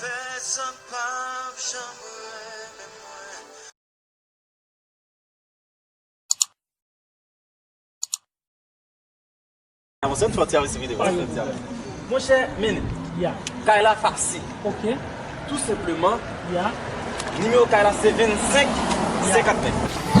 Pèsòn pap janm renmen mwen. Monchè men kay la fasil tou senpleman nimewo kay la se 25 59.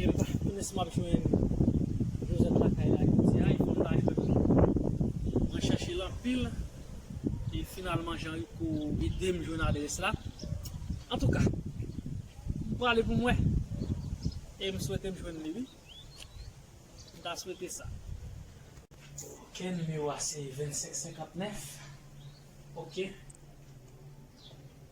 Epa kounye sa map jwenn Josette lakay la jodi a, epa mpa jwenn li non. Mwen chèche l anpil e finalman Jean Rico ede m jwenn adrès la. Antouka, m prale pou m wè e m swete m jwenn li wi. M ta swete sa. Ok, nimewo a se 2559. Ok.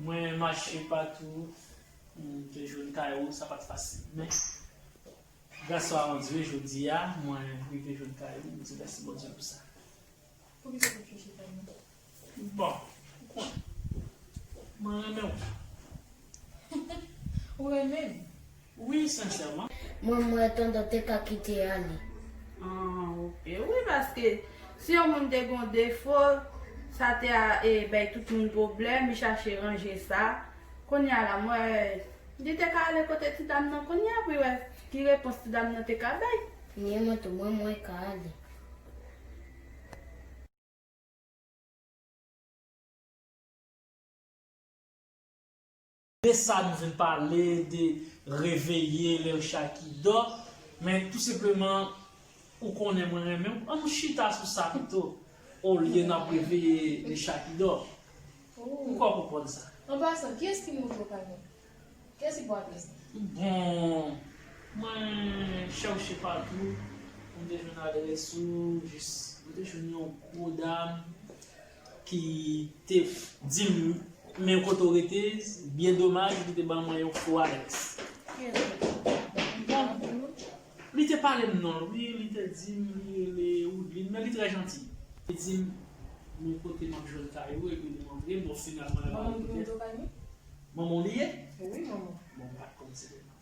Mwen mache patou pou m te jwenn kay ou, sa pa t fasil. Men, gras a on Dye, jodi a, mwen rive jwenn kay ou, m di mèsi Bondye pou sa. Poukisa w pa t chèche kay mwen? Bon, ou konnen, mwen renmen ou. Ou renmen m? Wi senchèman. Mwen m wè tonton te ka kite ale. Ahh ok wi paske si yon moun te gon defo sa te a bay tout moun pwoblèm li chache ranje sa kounya la m wè li te ka ale kote ti dam nan kounya pou l wè ki repons ti dam nan te ka bay. Ni mwen tou mwen mwen ka ale. De sa nou vin pale de reveye lel chay ki dò, men tou senpleman ou konnen mwen renmen ou an nou chita sou sa pito olye nap reveye le chay ki dò. Ou kwè w konprann sa? An pasan, kiyès ki montre w pa gen? Kiyès ki pral plis? Bon, mwen chèwche patou pou m te jwenn adrès ou, jis mwen te jwenn yon gwo dam. ki te dim men kote w rete byen domaj li te ban mwen yon fo alex bon li te pale m non l wi li te dim li rele woudline men li trè janti li te dim men kote map jwenn kay ou epi li montre m bon finalman manman w li ye bon m pat konn se te manman l.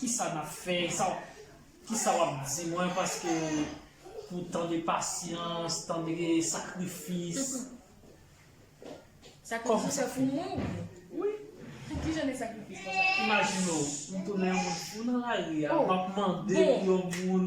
Kisa nap fè sa kisa wap di mwen paske pou tan de pasyans tan de sakrifis sakrifis sa pou mwen wi ki jan de sakrifis konsa imajine w ou tounen yon moun fou nan lari a wap mande pou yon moun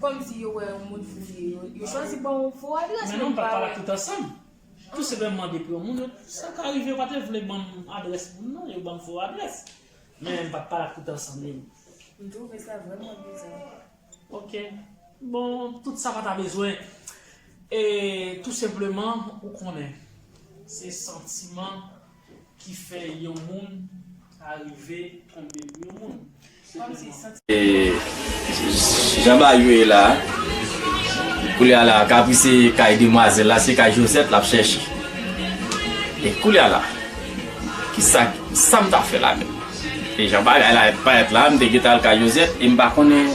Kòm si yo wè yon moun fou ye yo, yo chwazi ban ou fo adrès men nou pa wè. Menm nou pa t pale ak tout ansanm. Tou se lèm mande pou yon moun yo, sa ka rive yo pa te vle ban m adrès moun non, yo ban m fo adrès. Men m pa t pale ak tout ansanm yo. M twouve sa vrèman biza. Ok. Bon, tout sa pa ta bezwen. E tou senpleman, ou konnen. Se santiman. ki fè yon moun ta rive tonbe pou yon moun. Se kòm si santiman. E jan Bayou ye la a, koulye a la kapri se kay demwazèl la, se kay Josette l ap chèche. E koulye a la, ki sa, sa m ta fè la menm? E jan bagay la parèt la a, m te gen tan al kay Josette e m pa konnen.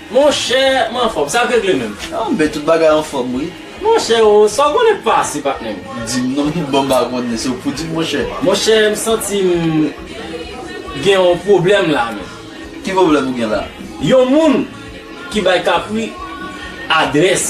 Monchè m anfòm, sa k regle menm? An ben tout bagay anfòm wi. Monchè o, sa w konnen k pase patnè m? Di m non tout bon m pa konnen, se w k pou di m monchè. Monchè m santi m gen yon pwoblèm la menm. Ki pwoblèm ou gen la? Yon moun ki bay Kapri adrès.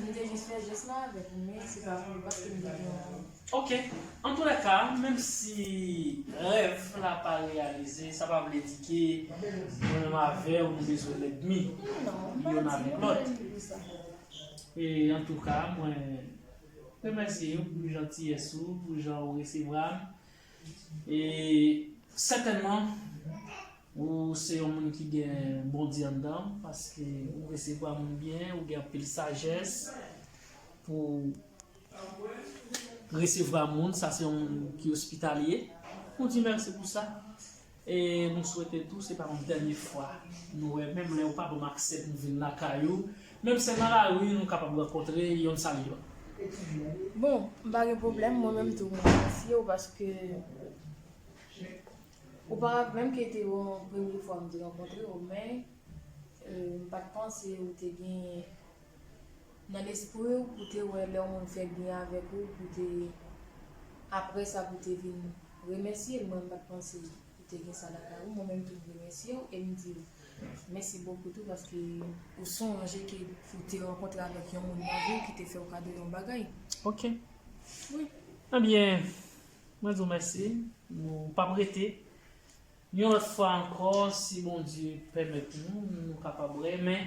M te jis fè jès la avèk ou men se pa pou bat ke m te gen yon dwòl. Ok. Antolèka, menm si rèv la pa reyalize, sa pa vle di ke mwen menm avè w nou bezwen lèdmi yonn avèk lòt. E antouka mwen remèsye w pou jantiyès ou, pou jan ou resevwa m. E sètènman ou se yon moun ki gen Bondye anndan w paske ou resevwa moun byen, ou gen anpil sajès pou resevwa moun, sa se yon moun ki ospitalye. Ou di mèsi pou sa. E nou swete tou se pa yon dènye fwa nou wè menm lè ou pa banm aksè pou m vin lakay ou, menm se nan lari nou kapab rankontre yonn sal yonn. Bon, m pa gen pwoblèm, mwen menm tou m remèsye ou paske ou pa rate menm ke te yon premye fwa m te rankontre ou men m pa t panse ou te gen Nan lespri w pou te wè lè yon moun fè byen avèk ou pou te aprè sa pou te vin remèsye l mwen m pat panse pou te gen sa lakay ou mwen menm tou m remèsye w e m di w mèsi bokou tou paske ou sonje ke ou te rankontre avèk yon moun nan vi w ki te fè w kado yon bagay ok wi. Ebyen mwen di w mèsi nou pap rete yon lòt fwa ankò si Bondye pèmèt nou nou kapab renmen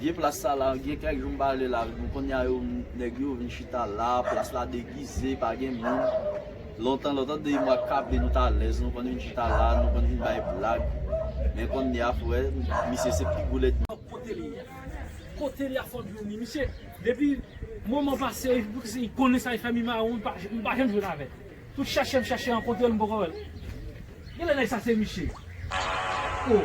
Vye plas sa la gen kèk jou m pa ale la bon konnya yo nèg yo vin chita la plas la degize pa gen moun lontan lontan 2 mwa k ale nou t alèz nou konn vin chita la nou konn vin bay blag men konnya f wè misye se pi gwo lèdmi Kote li ye? Kote li a fò djouni? Misye depi moman pase li konnen sa li fè mi mawon m pa janm jwenn avè l tout chèche m chèche rankontre l m poko wè l Genlè nèg sa se misye? Oh.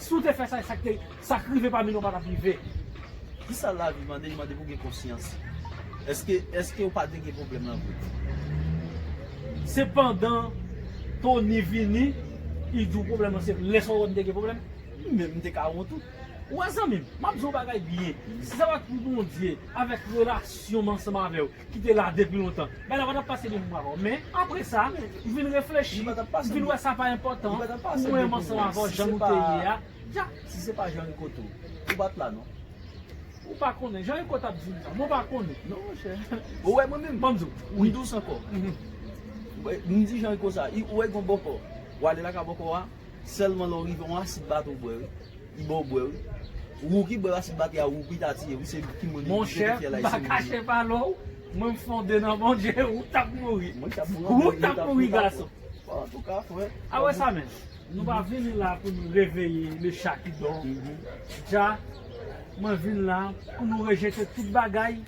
Si w te fè sa e sak te sak rive pami nou pa tap rive. Kisa lavi mande li mande pou gen konsyans eske eske ou pa de gen problem lan vre. Se pandan Tony vini li di w pwoblèm lan se lè sa ou wè m te gen pwoblèm? M menm m te ka wont tou. Ou wè zanmi m, m ap di w yon bagay byen, si sa pa t pou Bondye avèk relasyon m ansanm avè w, ki te la depi lontan, bagay la pa t ap pase depi mwen avè w. Men, apre sa, m vin reflechi, m vin wè sa pa enpòtan pou mwen menm ansanm avè w jan nou te ye a. Dyak! Si se pa Jan Riko tou, ou pa t la non. Ou pa konnen. Jan Riko t ap di m sa. Men w pa konnen. Non monchè. Ou wè mwen menm? Ban m di w. M dous ankò. M di Jan Riko sa. Ou wè gen yon bòkò. W ale lakay bòkò a, sèlman lè w rive, yon asid bato w bwè wi. Bon bwe wi. Rouki bwe racine bake a rouki ta tiye wi se ki moun li vle ki fyèl ayisyen moun yo. Mwen m fon 2 nan bon Dye ou tap mouri Ou tap mouri gason A wè sa menm Nou pa vini la pou nou reveye le cha ki dò Dja Mwen vin la pou nou rejete tout bagay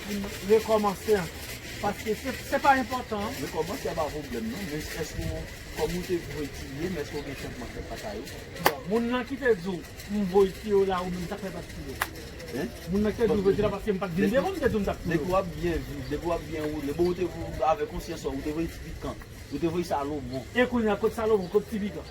Pou nou rekòmanse ankò. Paske se pa enpòtan. Rekòmanse a pa pwoblèm non. Men èske ou, kòm ou te vwe tiye, men èske ou gen chanjman fèt lakay ou? Bon, moun lan ki te di ou, m voye tiye w la, ou menm sa k fè ou pa t tiye l? Hein? Moun lan ki te di ou voye tiye l la paske m pa t vin devan w m te di ou m ta p touye w? Depi w ap byen viv, depi w ap byen woule, bon ou te, avèk konsyans sa w, ou te voye ti pikan. Ou te voye Salomon. E kounye a, kot Salomon, kot ti pikan?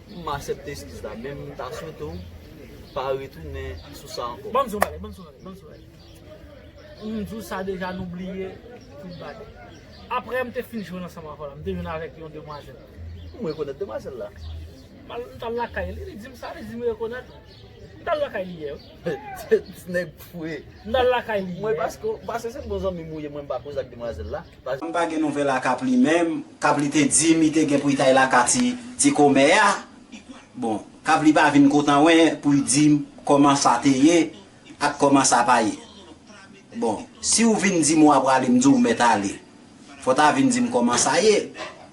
M asepte eskiz la men m ta swete w pa retounen sou sa ankò. Banm di yon bagay, banm di yon bagay, banm di yon bagay. M di w sa deja nou bliye tout bagay. Aprè m te fin jwenn ansanm avè w la, m te jwenn avèk yon demwazèl. M rekonèt demwazèl la. M al, m t al lakay li, li di m sa, li di m rekonèt ou. M t al lakay li yè wi. Ti nèg fou e. M t al lakay li yè. Mwen paske, paske se bon zanmi m ou ye mwen m pa koze ak demwazèl la. M pa gen nouvèl ak ap li menm kap li te di mi te gen pou itay la ka ti ti komè a bon kap li pa vin kotan wen pouy dim koman sa te ye ak koman sa pa ye bon siw vin dim wa prale m diw mèt ale fò ta vin dim koman sa ye.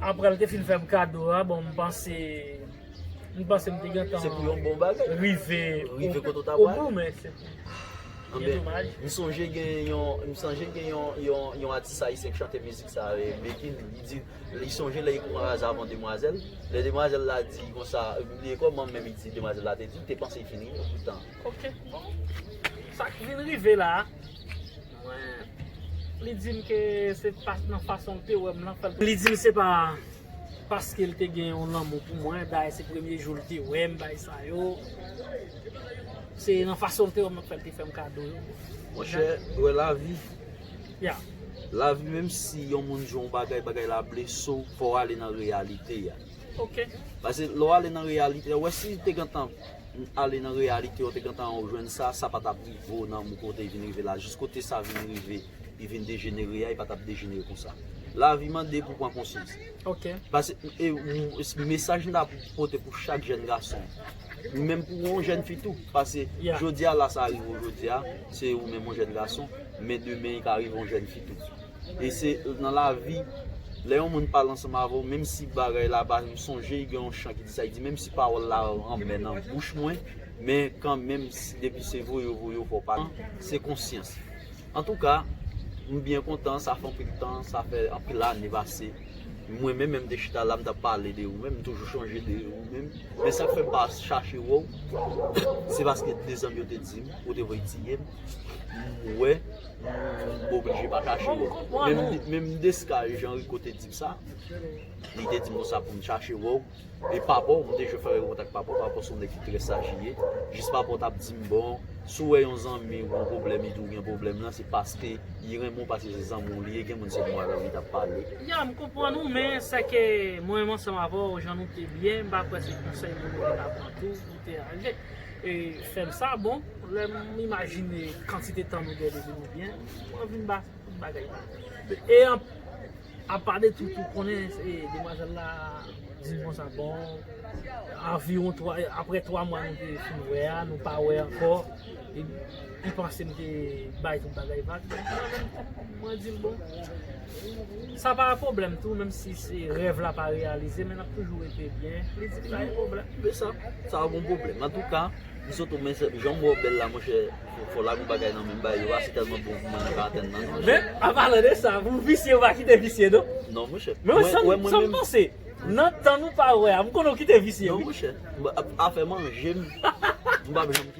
Aprè l te fin fè m kado a, bon m panse m panse m te gentan rive o bout men se pou byen domaj. M sonje gen yon atis ayisyen ki chante mizik sa a, Bekin, li di li sonje lè li pran raze avan demwazèl, lè demwazèl la di konsa, m bliye kòman menm li di demwazèl la te di, te panse li fin rive poutan. Ok bon, sa k vin rive la a. Mwen, li di m ke se pas nan fason l te wè m lan k fè l te. Li di m se pa paske l te gen yon lanmou pou mwen, dayè se premye jou l te wè m, bagay sa yo. Se nan fason l te wè m lan k fè l te fè m kado yo. Monchè, ou wè lavi. Ya. Lavi menm si yon moun di w yon bagay, bagay la blese w, fò w ale nan reyalite a. Ok. Pase lè w ale nan reyalite a, ou wè si te gentan Ale nan reyalite ou te gentan ou jwenn sa, sa pa tap rive ou nan mou kote vin rive la, jis kote sa vin rive li vin dejenere a, li pa tap dejenere konsa. Lavi mande pou pran konsyans. Ok. Pase, e, mesaj m ta pote pou chak jèn gason, menm pou ou jèn fi tou, pase, jodi a la sa rive ou jodi a, se ou menm ou jèn gason, men demen ka rive ou jèn fi tou. E se nan lavi, lè yon moun pale ansanm avè w, menm si bagay la pa, m sonje gen yon chan ki di sa, li di menm si pawòl la anmè nan bouch mwen, men kan menm depi se voye yo voye yo fò w pa di, se konsyans. Antouka, m byen kontan, sa fè anpil tan, sa fè anpil ane pase, mwen menm lè m te chita la, m t ap pale de ou menm, m toujou chonje de ou menm, men sa k fè m pa chache wè w, se paske de zanmi yo te di m, ou te voye tiye m, m wè. Mwen oblije pa chache wè w. Menm Desca jan Rico te di m sa, li te di m konsa pou m chache wè w. E papa w, mwen te jwe fè yon kontak papa w, papa w se yon nèg ki trè saj li ye. Jis papa w t ap di m bon, si w wè yon zanmi w gen pwoblèm, li di w gen pwoblèm lan, se paske li renmen w, paske se zanmi w li ye. Gen moun se mwa avè w li t ap pale. Ya, m konprann ou, men sèke mwen menm ansanm avè w, jan nou te byen, m pa kwè se konsèy moun yo te ka pran tou. Deanje e fèm sa bon lèm imajine kantite tan nou gen depi nou byen mwen vin ba tout bagay la e apa de tout ou konnen e demwazèl la dim konsa bon anviwon 3 aprè 3 mwa nou te fin wè a nou pa wè ankò. Li panse m te bay tout bagay vag. Mwen menm mwen di l bon, sa pa pwoblèm tou menm si se rèv la pa reyalize men n ap toujou rete byen. Li di m pa gen pwoblèm. Men sa, sa pa gon pwoblèm. Antouka, M. Soto men sèm, jan m wè w bèl la monchè, fò w lage yon bagay nan men m ba yo a, se tèlman bon pou mwen nan karantèn nan. Men, an palan de sa, pou visye ou pa kite visye non. Non monchè. Men wè sa m panse, nan tan nou pa wè a, m konnen ou kite visye wi. Non monchè, afè manje m, m pa p janm.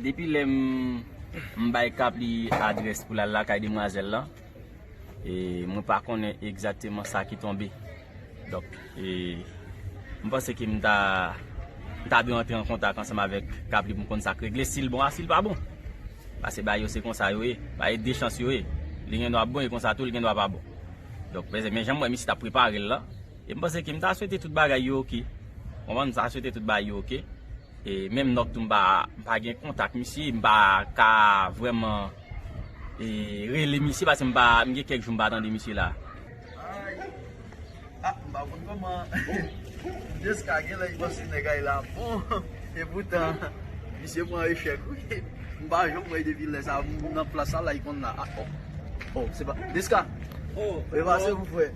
Depi lè m bay Kapli adrès pou l al lakay demwazèl lan, mwen pa konnen egzakteman sa ki tonbe. Donk, m panse ke m ta dwe antre an kontak ansanm avèk Kapli pou m konn sa k regle, si l bon a si l pa bon. Pase bagay yo se konsa yo ye, bagay yo de chans yo ye. Li gendwa bon e konsa tou li gendwa pa bon. Donk, men jan m wè misye t ap prepare l lan, E m panse ke m ta swete tout bagay yo ok. Konprann? M ta swete tout bagay yo ok. E menm Nòk tou m pa, m pa gen kontak misye, m pa ka vrèman e rele misye paske m pa, m gen kèk jou m pa tande misye la. Ayy! A! M pa konn kòman Desca genlè li panse nèg Ayla ap bon e poutan misye pran echèk wi. M pa janm wè depi lè sa m nan plas sa la li konn la. A! O! O! Se pa Desca! O! Ou e pase m frè?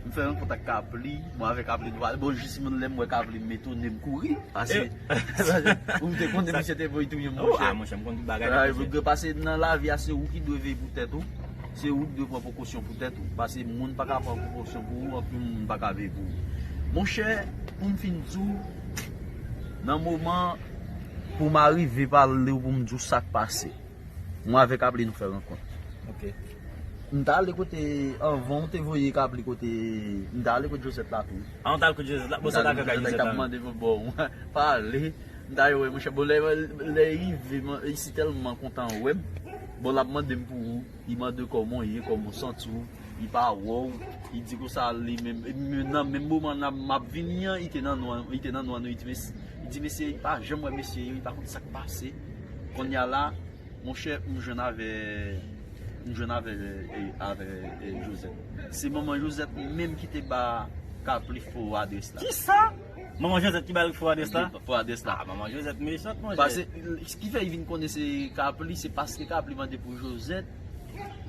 M fè rankont ak Kapli, mwen avè Kapli nou pale, bon jis moun lèm wè Kapli m etone m kouri, pase ou te konnen misye te voye touye m monchè. Ou a monchè m konn tout bagay nan misye. Sa pase nan lavi a se ou ki dwe veye pou tèt ou, se ou ki dwe pran prekosyon pou tèt ou, pase moun pa ka pran prekosyon pou ou anpil moun pa ka veye pou ou. Monchè pou m fin di w nan moman pou m arive pale w pou m di w sa k pase. Mwen avèk Apli nou fè rankont. Ok. M t ale kote anvan ou te voye Apli kote m t ale kote Josette la tou. Ah ou t al kote Josette la? Bon sa w t al fè kay Josette la menm? Josette ap mande m bon mwen pa ale m t ale wè monchè bon lè li rive li si tèlman kontan wè m bon l ap mande m pou ou li mande kòman w ye kòman w santi w li pa wè w li di konsa li menm epi menm nan menm moman nan m ap vini an li te nan nwa li te nan nwa nou li di mesye li pa janm wè mesye yo li pa konn sa k pase. Konnya la monchè m jwenn avè m jwenn avè avè Josette se manman Josette menm ki te ba Kapli fo adrès la. Kisa? Manman Josette ki bal fo adrès la? Fo adrès la. Ah manman Josette mechant monchè. Pase s ki fè li vin konnen se Kapli se paske Kapli mande pou Josette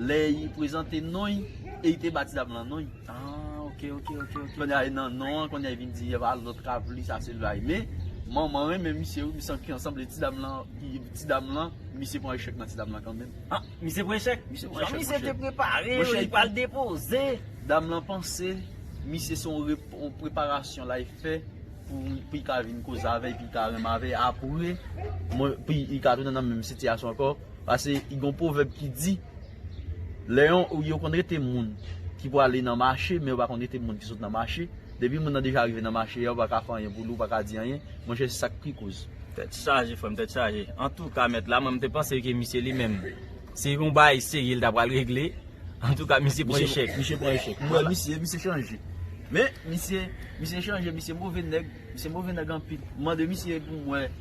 lè li prezante non li e li te ba ti dam lan non li. Aah ok ok ok ok konnya e nan non an konnya e vin di epa lòt ka pou li sa se lwa e men manman renmen misye wi san ki sanble ti dam lan ti dam lan misye pran echèk nan ti dam lan kanmenm ah misye pran echèk misye pran echèk monchè jan misye te prepare yo li pral depoze dam lan panse misye se yon preparasyon lay fè pou li ka vin koze avè epi li ka renmen avè apre mwen epi li ka tounen nan menm sitiyasyon ankò pase gen yon pwovèb ki di. Lè yon, yo konn rete moun ki pou ale nan mache, men yo pa konn rete moun ki sot nan mache. Depi moun nan deja rive nan mache a, ou pa ka fè anyen pou li, ou pa ka di anyen. Monchè se sa k pi koz. Tèt chaje frè m, tèt chaje. Antouka mèt la, mwen m te panse ke misye li menm, se yon bagay serye li ta pral regle. Antouka misye pran echèk. Misye pran echèk. M wè misye, misye chanje. Men, misye, misye chanje, misye move nèg, misye move nèg anpil. M mande misye pou m wè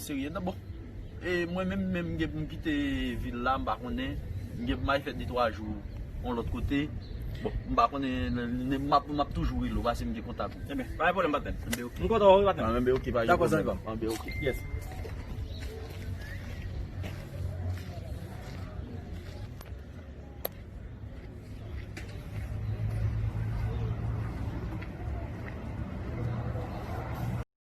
Serye nan bon e mwen menm menm gen poum kite vil la m pa konnen m gen pou m al fè de twa jou yon lòt kote bon m pa konnen map toujou rele w paske m gen kontak ou. Ebyen pa gen pwoblèm patnèm. Enben ok. M kontan wè w wi patnèm. An enben ok pa gen pwoblèm. Dakò zanmi pa m. Enben ok. Yes.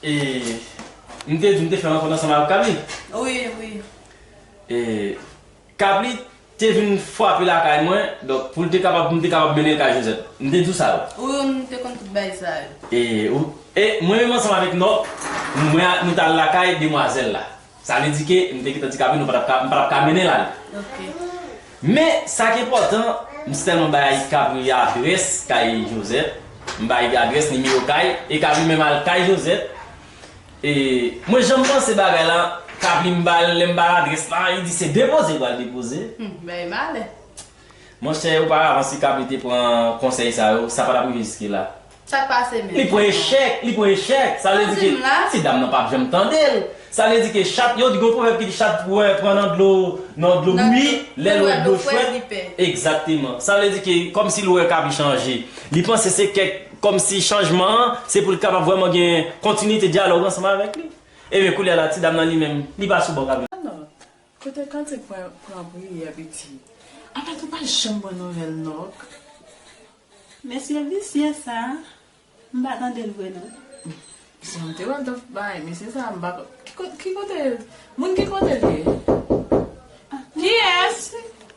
E m te di m te fè rankont ansanm avèk Kabli? Wi, wi. E Kabli te vin fwape lakay mwen, donk pou l te kapab, pou m te kapab mennen l kay Jozèt. M te di w sa yo? Wi, wi, m te konn tout bagay sa yo. E ou, e mwen menm ansanm avèk Nòt, mwen ak nou t al lakay demwazèl la. Sa vle di ke m te ket andikape nou pa tap ka, m pa tap ka mennen l ale. Men, sa k enpòtan, m sèlman bay Ayika pou li adrès kay Josette. M bay li adrès, nimewo kay, e k ap li menm al kay Josette. E, mwen janm panse bagay la, k ap li m ba l, lè m ba l adrès la, li di se depoze l pral depoze. Bagay malè. Monchè ou pa avanse kap li te pran konsèy sa yo sa pa tap rive jiske la. Sak pase menm. Li pran echèk, li pran echèk. Sa vle di ke ti dam nan pap janm tande l. Sa vle di ke chat, yo di gon pwovèb ki di chat wè pran nan dlo nan dlo bouyi, lè l wè dlo fwèt, egzakteman. Sa vle di ke kòm si l wè kap li chanje. Li panse se kèk kòm si chanjman an se pou l kapab vrèman gen kontinite dyalòg ansanm avèk li. Ebyen koulye a la ti dam nan li menm li pa sou bò kap li. Kote kantik mwen pran priyè piti. Apat ou pa janm ban nouvèl non ok. Mesye visye sa m pa tande l vre non. Sa m te wè l t ap bay mesye sa m pa ki kote moun ki kote l ye? Kiyès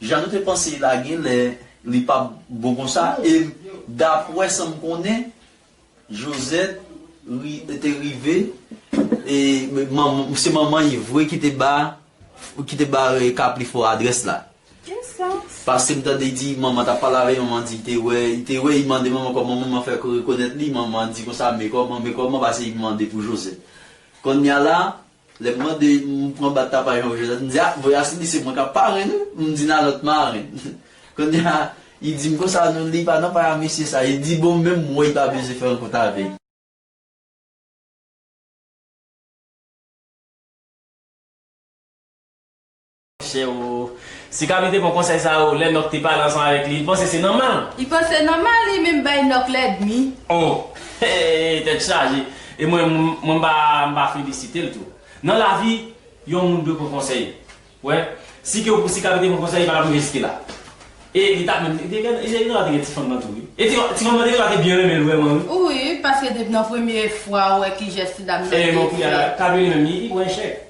Jan nou te panse la genlè li pap bon konsa e dapwè sam konnen Josette te rive e se manman yi vre ki te ba ki te ba kaplifò adrès la paskem tande di manman tap pale avè manman di te wè te wè yi mande manman kòman manman fè rekonèt li manman di konsa me kòman me kòman pase yi mande pou Josette konnya la Lè m mande m pran bat la pa jan Josette m di a voye Asili se mwen k ap parenn ou m di n a lòt marenn Kounye a li di m konsa non li pa nan pay a mesye sa li di bon menm m wè li pa bezwen fè rankont avè l. Chè oo. Si Kaby te pran konsèy sa yo lè Nòk te pale ansanm avèk li, li t panse se nòmal. Li panse nòmal li menm bay Nòk lèdmi. Oh! Hee tèt chaje. E mwen mwen m pa m pa felisite l tou. Nan lavi, yon moun dwe pran konsèy. Ou wè? Si ke si Kaby te pran konsèy li pa tap rive jiske la. E li tap menm te gen e Tiganou te gen ti fanm nan tou wi. E ti ti fanm nan te gen dwa te byen renmen l vrèman wi. Wi, paske depi nan premye fwa ou wè ki jès ti dam nan te fè. E men kounye a Kaby li menm li pran echèk.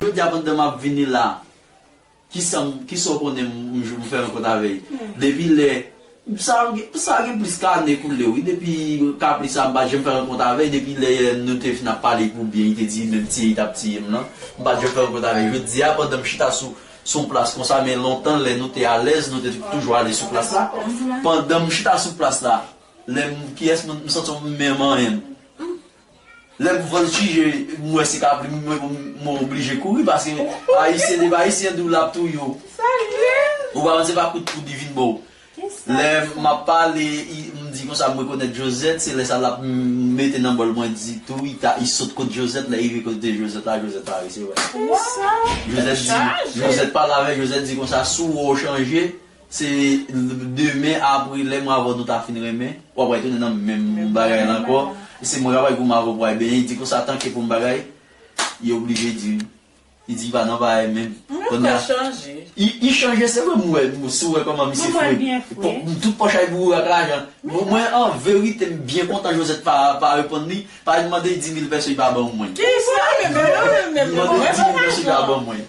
Jodi a pandan map vini la kisam kisa w konnen m jwenn m fè rankont avèy depi lè sa sa gen plis ke ane koule wi depi kapri sa m pa janm fè rankont avèy depi lè nou te fin ap pale pou byen li te di menm tiye li tap tiye m lan m pat janm fè rankont avèy jodi a pandan m chita sou yon plas konsa men lontan lè nou te alèz nou te toujou ale sou plas la pandan m chita sou plas la Lem kiyes moun m santi m menm anyen m lem vol chije m we se kabrit m we m oblije kouri paske ayisyen depi ayisyen di w lap touye w ou pa konn se pa kout poud li vin ba w lè map pale m di konsa m rekonet josette se lè sa lap mete nan bol mwen di tou rita i sot kot josette lè rive kote josette la josette pa resi wè josette di josette pale avek josette di konsa si w we w chanje. Se demen apre lè mwen avèw nou ta fin renmen, wap wè tounen nan menm bagay la ankò, e se mwen kap wè pou mwen avèw pwal benyen, li di konsa tanke pou m bagay, li oblije di wi. Li di li pa nan bagay menm. Mwen fèl chanje. Li chanje se vre m wè, si w wè kòman misye fre. Tout pòch la li boure ak lajan. Mwen an verite m byen kontan Josette pa reponn li, paske li mande 10000 pèso li pa ban mwen. Kisa? Li mande 10000 pèso li pa ban mwen.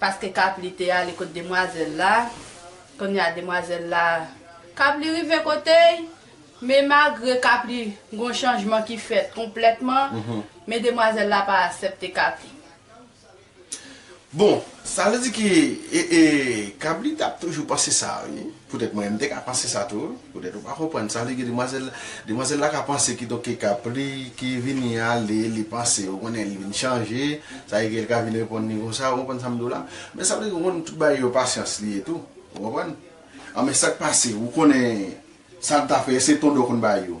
Paske kap li te ale kot demwazel la kounye a demwazel la kap li rive kotey men magre kap li gon chanjman ki fèt konpletman men demwazel la pa asepte kap li. Bon sa vle di ke kap li tap toujou panse sa wi. Poutèt mwen menm m te ka panse sa tou, poutèt ou pa konprann sa vle di demwazèl la, demwazèl la ka panse ki donk ke kap li ki vini ale li panse ou konnen li vin chanje, sa vle di ke li ka vin reponn li konsa ou konprann sa m di w la, men sa vle di ou konn tout bagay yo pasyans li ye tou ou konprann, an men sak pase ou konnen sa l ta fè èske ton do konn ba yo.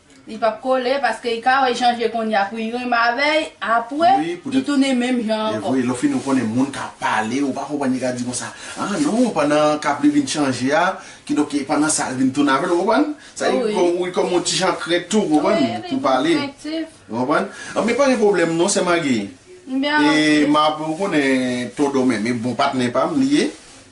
Li pap kole paske li ka wè jan je konn ya pou li renmen avèy apwe li tounen menm jan ankò. Evre lè ou fini ou konnen moun ka pale ou pa konprann li ka di konsa ah non pandan kap li vin chanje a kidonk pandan sa li vin tounen avèl ou konprann sa li vin konn li konn yon ti jan krent tou konprann pou pale ou konprann anben pa gen pwoblèm non sè magi e map ou konnen ton domè me bon patnè pam li ye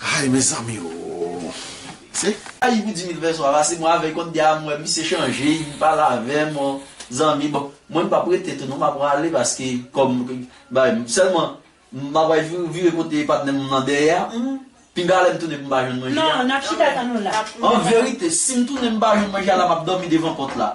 Hay mezanmi ooh se. Ayi pou Dimi fè swa pase mwen avèl kont dia mwen misye chanje li pale avèm on zanmi bon mwen m pap rete tou non map rale paske kòm bay sèlman m ap vire kote patnèm nan dèyè a humm pinga lèm tounen poum pa jwenn manje a anverite sim tounen m pa jwenn manje a la map dòmi devan pòt la.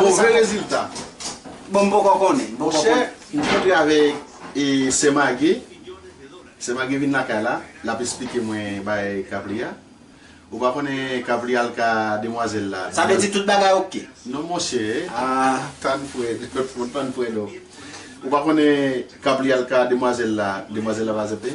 Move rezilta? Bon m poko konnen. Monchè, m kontre avèk sè Mage, sè Mage vin lakay la, l ap esplike mwen bagay kap li a. Ou pa konnen kap li a l ka demwazèl la. Sa vle di tout bagay ok? Non monchè, tann frèd, tann frèd o. Ou pa konnen kap li a l ka demwazèl la, demwazèl la pa aksepte?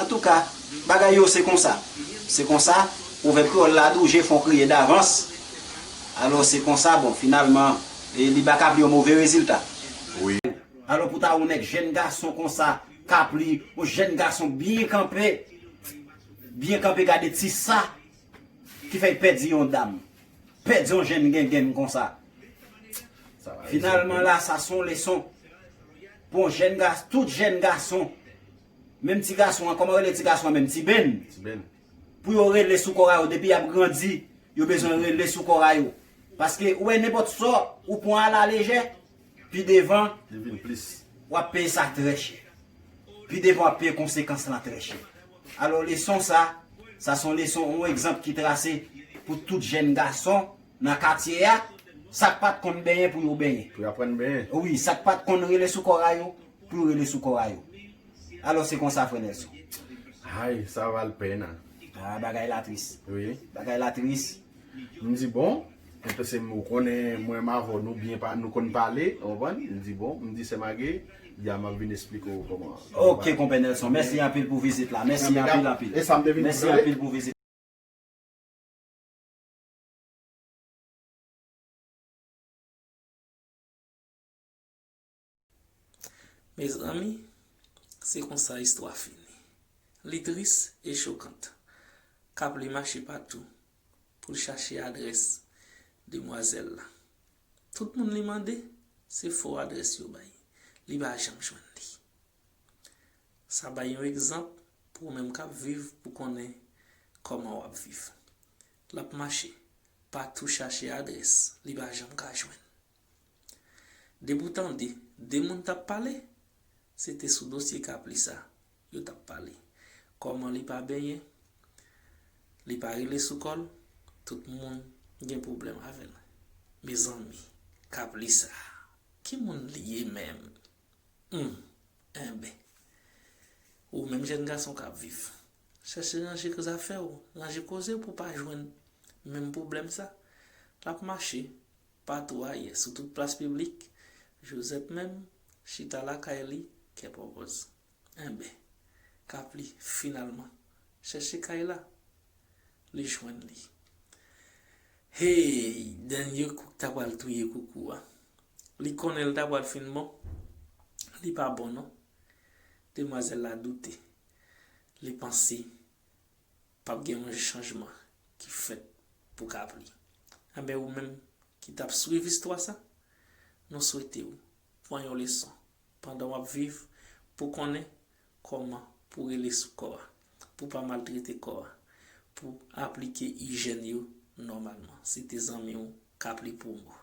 Antouka, bagay yo se konsa. Se konsa, pwovèb kreyòl la di w je fon kriye davans. Alò, se konsa, bon, finalman, li ba Kapli yon move rezilta. Wi. Alò, pou ta wè yon nèg jèn gason konsa, Kapli, yon jèn gason byen kanpe, byen kanpe gade ti sa ki fè l pèdi yon dam, pèdi yon jèn gengenn konsa. Finalman la, sa se yon leson pou yon jèn gason, tout jèn gason Menm ti gason an kòman yo rele ti gason an menm ti Ben pou yo rele sou kòra yo depi yap grandi yo bezwen rele sou kòra yo paske ou wè nenpòt sa ou pwan a la lejè pi devan wap peye sa trè chè pi devan wap peye konsekans lan trè chè alò leson sa sa son leson yon egzanp ki trase pou tout jèn gason nan katye a sak pat konn benyen pou yo benyen wi sak pat konn rele sou kòra yo. pou yo rele sou kò a yo. Alò se konsa frè Nelson. Hay, sa val pèn a. Ah bagay la tris. Wi. Bagay la tris. M di bon, e pase m ou konnen mwen m avè w nou byen pa nou konn pale, ou konprann? M di bon, m di sè Mage, di a m ap vin esplike w kòman. Ok konpè Nelson, mèsi anpil pou vizit la. Mèsi anpil anpil. E sa m te vin di tande. Mezanmi, se konsa istwa fini. Li tris e chokant. Kapli mache patou pou l chache adrès demwazèl la. Tout moun li mande, se fo adrès yo bay. Li pa janm jwenn li. Sa bay yon egzanp pou ou menm k ap viv pou konnen kòman w ap viv. L ap mache patou chache adrès li pa janm ka jwenn. Depi w tande 2 moun t ap pale, se te sou dosye Kapli sa yo t ap pale. Kòman li pa benyen, li pa rele sou kò l, tout moun gen pwoblèm avè l. Mezanmi, Kapli sa, ki moun li ye menm? Hum! Enben, ou menm jèn gason k ap viv, chèche ranje zafè w, ranje koze w pou w pa jwenn menm pwoblèm sa. L ap mache Patou ayè sou tout plas piblik, Josette menm, chita lakay li, kè pòpòz. Enben, Kapli, finalman, chèche kay la. Li jwenn li. Hey! Dènye kou k ta pral touye koukou a. Li konnen l ta pral fin bon? Li pa bon non. Demwazèl la doute. Li panse. Pap gen yon chanjman ki fèt pou kapli anben ou menm ki tap swiv istwa sa nou swetew pwan yon leson pandan wap viv pou konnen kòman pou rele sou kò a pou pa maltrete kò a pou aplike ijèn yo nòmalman se te zanmiw kapli pou ou.